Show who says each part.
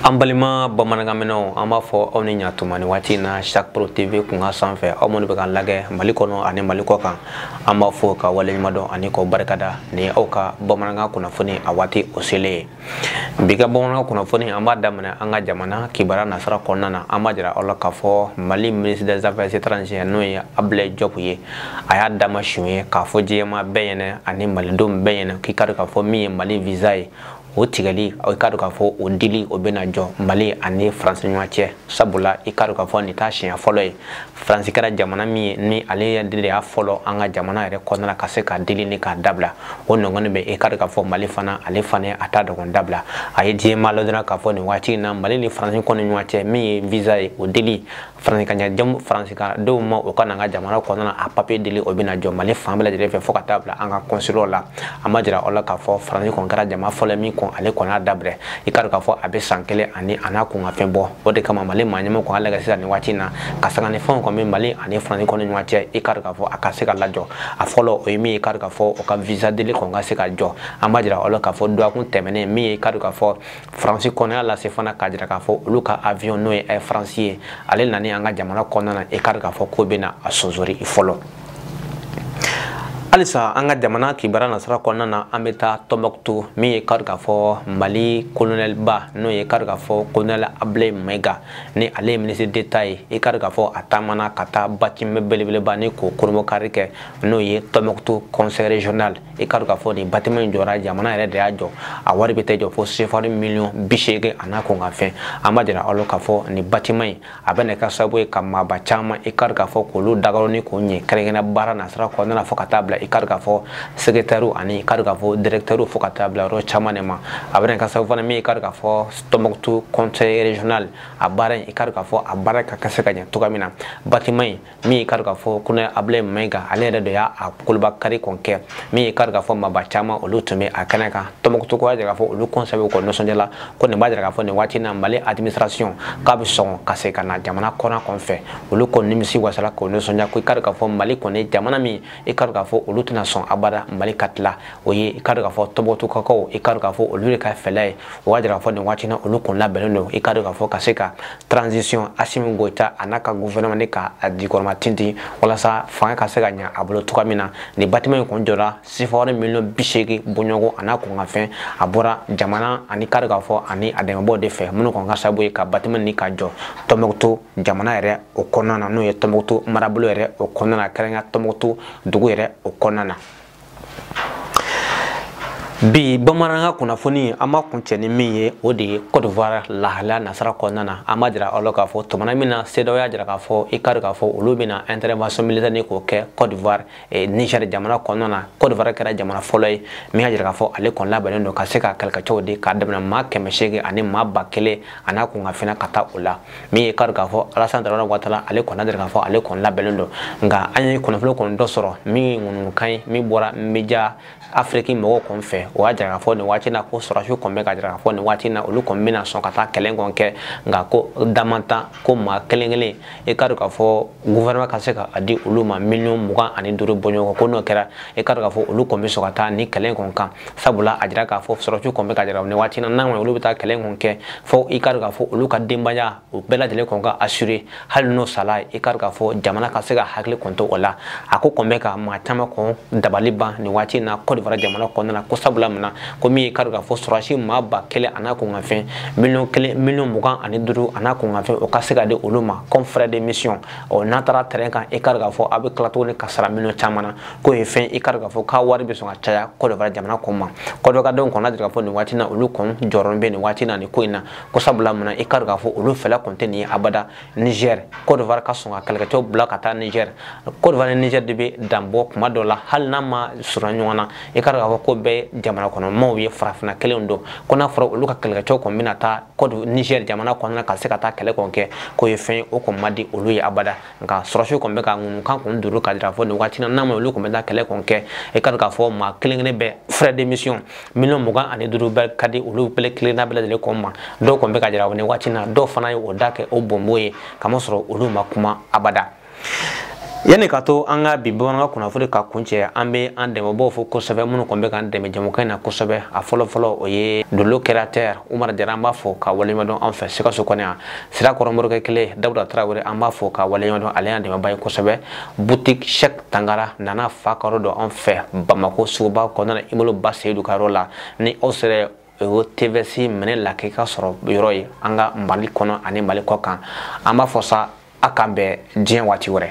Speaker 1: an balima bamanankanmɛnnaw an b'a fɔ aw ni ɲatuma nin waati na chaque pro tv kunkan sanfɛ aw minnu bɛ k'an lagɛ mali kɔnɔ ani mali kɔ kan an b'a fɔ k'aw waleɲumandɔn ani k'aw barikada ni aw ka bamanankan kunnafoni a waati o selen ye bi ka bamanankan kunnafoni an b'a daminɛ an ka jamana kibaru nasira kɔnɔna na an b'a jira aw la k'a fɔ mali ministre des affaires étrangères n'o ye ablaye jɔp ye a y'a dama siɲɛ ye k'a fɔ diɲɛ maa bɛɛ ɲɛna ani malidenw bɛɛ ɲɛna k'i k'a dɔn k'a fɔ min ye mali visa ye o tigɛli i k'a dɔn k'a fɔ o dili o bɛna jɔ mali ani faransi ɲɔgɔn cɛ sabula i k'a dɔn k'a fɔ nin t'a siɲɛ fɔlɔ ye faransi kɛra jamana min ye ni ale de y'a fɔlɔ an ka jamana yɛrɛ kɔnɔna ka se ka dili ni k'a dabila o nɔgɔni bɛ i k'a dɔn k'a fɔ mali fana ale fana y'a ta ɲɔgɔn dabila a ye diɲɛ maa ladɔnniya k'a fɔ nin waati in na mali ni faransi kɔni ɲɔgɔn cɛ min ye visa ye o dili faransi ka den faransidenw ma o ka na an ka jamana kɔnɔna a papiye dili o bɛna jɔ mali fan bɛɛ lajɛlen fɛ fo ka taa bila an ka kɔnsilaw la an b'a jira aw la k'a fɔ faransi kɔni kɛra jamana fɔlɔ min kɔn ale kɔni y'a dabila i k'a dɔn k'a fɔ a bɛ san kelen ani a n'a kunkanfɛn bɔ o de kama mali maa ɲɛmɔgɔ k'a lagɛ sisan nin waati in na ka sanga ni fɛnw kɔni bɛ mali ani faransi kɔni ɲɔgɔn cɛ i k'a dɔn k'a fɔ a ka se k'a lajɔ a fɔlɔ o ye min ye i k'a dɔn k'a fɔ o ka visa dili kɔni ka se ka jɔ an b'a jira aw la k'a fɔ dɔgɔkun tɛmɛnen min ye i k'a dɔn k'a fɔ faransi kɔni y'a lase fana k'a jira k'a fɔ olu ka avion n'o ye air faransi ye ale nali an ka jamana kɔnɔna na i k'a dɔn k'a fɔ k'o bɛna a sonsoro fɔlɔ halisa an ka jamana kibaru nasira kɔnɔna na an bɛ taa tɔnbɔkutu min ye i k'a dɔn k'a fɔ mali kolonɛliba n'o ye i k'a dɔn k'a fɔ kolonɛli abulayi mayiga ni ale ye minisiri d'etat ye i k'a dɔn k'a fɔ a taamana ka taa batiman belebeleba nin k'o kurunbonkari kɛ n'o ye tɔnbɔkutu conseil régional i k'a dɔn k'a fɔ nin batiman in jɔra jamana yɛrɛ de y'a jɔ a wari bɛ t'i jɔ fo sefari miliyɔn bi seegin a n'a kunkanfɛn an b'a jira aw la k'a fɔ nin batiman in a bɛna kɛ sababu ye ka maaba caman i k'a dɔn k'a fɔ k'olu dagayɔrɔ nin k'o ɲɛ kɛrɛnkɛrɛn baara nasira kɔnɔna fo ka taa bila i k'a dɔn k'a fɔ sekretɛriw ani i k'a dɔn k'a fɔ dirɛkitɛriw fo ka taa bila yɔrɔ caman de ma a bɛna kɛ sababu fana min i k'a dɔn k'a fɔ tɔnbɔkutu conseil régional a baara in i k'a dɔn k'a fɔ a baara ka kɛ se ka ɲɛ cogoya min na batiman in min y'i k'a dɔn k'a fɔ kolonɛli abulayi mayiga ale yɛrɛ de y'a a kurunbonkari kɔni kɛ min y'i k'a dɔn k'a fɔ maaba caman olu tun bɛ a kɛnɛ kan tɔnbɔkutukaw y'a jira k'a fɔ olu kɔni sɛbɛkɔrɔ nisɔndiyala ko nin b'a jira k'a fɔ nin waati na mali administration k'a bɛ sɔn ka se ka na jamana kɔrɔn kɔni fɛ olu kɔni nimisiwasala k'o nisɔndiya ko i k'a dɔn k'a fɔ mali kɔni jamana min i k'a dɔn k'a fɔ olu tɛna sɔn abada mali ka tila o ye i ka dɔn k'a fɔ tɔnbɔkutukaw i ka dɔn k'a fɔ olu de ka fɛla ye o b'a jira k'a fɔ nin waati na olu kɔni labɛnnen don i ka dɔn k'a fɔ ka se ka transition asimi goyita a n'a ka gouvernement nin k'a jukɔrɔma tintin walasa fanga ka se ka ɲa a bolo cogoya min na nin batiman in kɔni jɔra sefawari miliyɔn bi seegin bɔɲɔgɔn a n'a kunkanfɛn a bɔra jamana ani ka dɔn k'a fɔ ani a dɛmɛbaaw de fɛ minnu kɔni kɛra sababu ye ka batiman nin ka jɔ tɔnbɔkutu jamana yɛrɛ o kɔnɔna na n'o ye tɔnbɔkutu marabolo yɛrɛ o kɔnɔna na kɛrɛnkɛrɛnya tɔnbɔkutu dugu yɛrɛ o kɔnɔna na bi bamanankan kunnafoni an b'a kuncɛ ni min ye o de ye cote d'ivoire lahalaya nasara kɔnɔna na an b'a jira aw la k'a fɔ tumana min na cedeao y'a jira k'a fɔ i k'a dɔn k'a fɔ olu bɛna intervention militaire nin k'o kɛ cote d'ivoire eh, niger jamana kɔnɔna na cote d'ivoire kɛra jamana fɔlɔ ye min y'a jira k'a fɔ ale kɔni labɛnnen don ka se ka kɛlɛkɛcɛw di k'a daminɛ maa kɛmɛ seegin ani maa ba kelen a n'a kunkanfɛn ka taa o la min ye k'a jira k'a fɔ alasan daramani watara ale kɔni y'a jira k'a fɔ ale kɔni labɛnnen don nka an ye kunnafoni kɔni dɔ sɔrɔ min ye ŋunuŋunukan ye min bɔra media afiriki mɔgɔw kɔni fɛ o y'a jira k'a fɔ nin waati na ko sɔrɔdasiw kɔni bɛ k'a jira k'a fɔ nin waati na olu kɔni bɛna sɔn ka taa kɛlɛ kɔni kɛ nka ko damantan ko maa kelen kelen i k'a dɔn k'a fɔ gouvernement ka se k'a di olu ma miliyɔn mugan ani duuru bɔɲɔgɔn ko n'o kɛra i ka dɔn k'a fɔ olu kɔni bɛ sɔn ka taa nin kɛlɛ in kɔni kan sabula a jira k'a fɔ sɔrɔdasiw kɔni bɛ k'a jira nin waati na n'a ma olu bɛ taa kɛlɛ in kɔni kɛ fo i ka dɔn k'a fɔ olu ka denbaya u bɛɛ lajɛlen kɔni ka assurer hali n'u sara i ka dɔn k'a fɔ jamana ka se k'a hakili kɔni to u la a ko kɔni bɛ ka maa caman kɔni dabali ban nin waati in na Côte d'Ivoire jamana kɔnɔna na ko sabula mun na komi i ka dɔn k'a fɔ sɔrɔdasi maa ba kelen a n'a kunkanfɛn miliyɔn kelen miliyɔn mugan ani duuru a n'a kunkanfɛn o ka se ka di olu ma comme frais de mission ɔ n'a taara terrain kan i ka dɔn k'a fɔ u bɛ tila tuguni ka sara miliyɔn caman na k'o ye fɛn i ka dɔn k'a fɔ k'a wari bɛ sɔn ka caya Côte d'Ivoire jamana kɔni ma Côte d'Ivoire denw kɔni y'a jira k'a fɔ nin waati na olu kɔni jɔrɔ bɛ nin waati na nin ko in na ko sabula mun na i ka dɔn k'a fɔ olu fɛla kɔni tɛ nin ye abada Niger Côte d'Ivoire ka sɔn ka kɛlɛkɛcɛw bila ka taa Niger Côte d'Ivoire ni Niger de bɛ danbɔ kuma dɔ la hali n'u man surun ɲɔgɔn na i ka dɔn k'a fɔ k'u bɛɛ jamana kɔnɔmaw ye farafinna kelenw don ko n'a fɔra olu ka kɛlɛkɛcɛw kɔni bɛna taa Côte Niger jamana kɔnɔna ka se ka taa kɛlɛ kɔni kɛ k'o ye fɛn ye o kɔni man di olu ye abada nka sɔrɔdasiw kɔni bɛ ka ŋunuŋunukan kɔni duru k'a jira k'a fɔ nin waati na n'a ma olu kɔni bɛ taa kɛlɛ kɔni kɛ i ka dɔn k'a fɔ maa kelen kelen bɛɛ frais de mission miliyɔn mugan ani duuru bɛɛ ka di olu bɛɛ kelenna bɛɛ lajɛlen kɔni ma dɔw kɔni bɛ k'a jira nin waati na dɔw fana y'u da kɛ u bonbon ye kamasɔrɔ olu ma kuma abada yanni ka to an ka bi bamanankan kunnafoni ka kuncɛ an bɛ an dɛmɛbaaw fo kosɛbɛ minnu kɔni bɛ k'an dɛmɛ jɛmukan in na kosɛbɛ a fɔlɔfɔlɔ o ye dolo créateur umar jara an b'a fo k'a waleɲumandɔn an fɛ sikaso kɔnɔ yan sirakɔrɔ morikɛ kelen dawuda tarawele an b'a fo k'a waleɲumandɔn ale y'an dɛmɛba ye kosɛbɛ boutique cheick tangara nana fa karo dɔ an fɛ bamako suguba kɔnɔna immeuble ba seyidu ka yɔrɔ la ni aw sera o tvs minɛ la k'i ka sɔrɔ yɔrɔ ye an ka mali kɔnɔ ani mali kɔkan an b'a fɔ sa a k'an bɛn diɲɛ waati wɛrɛ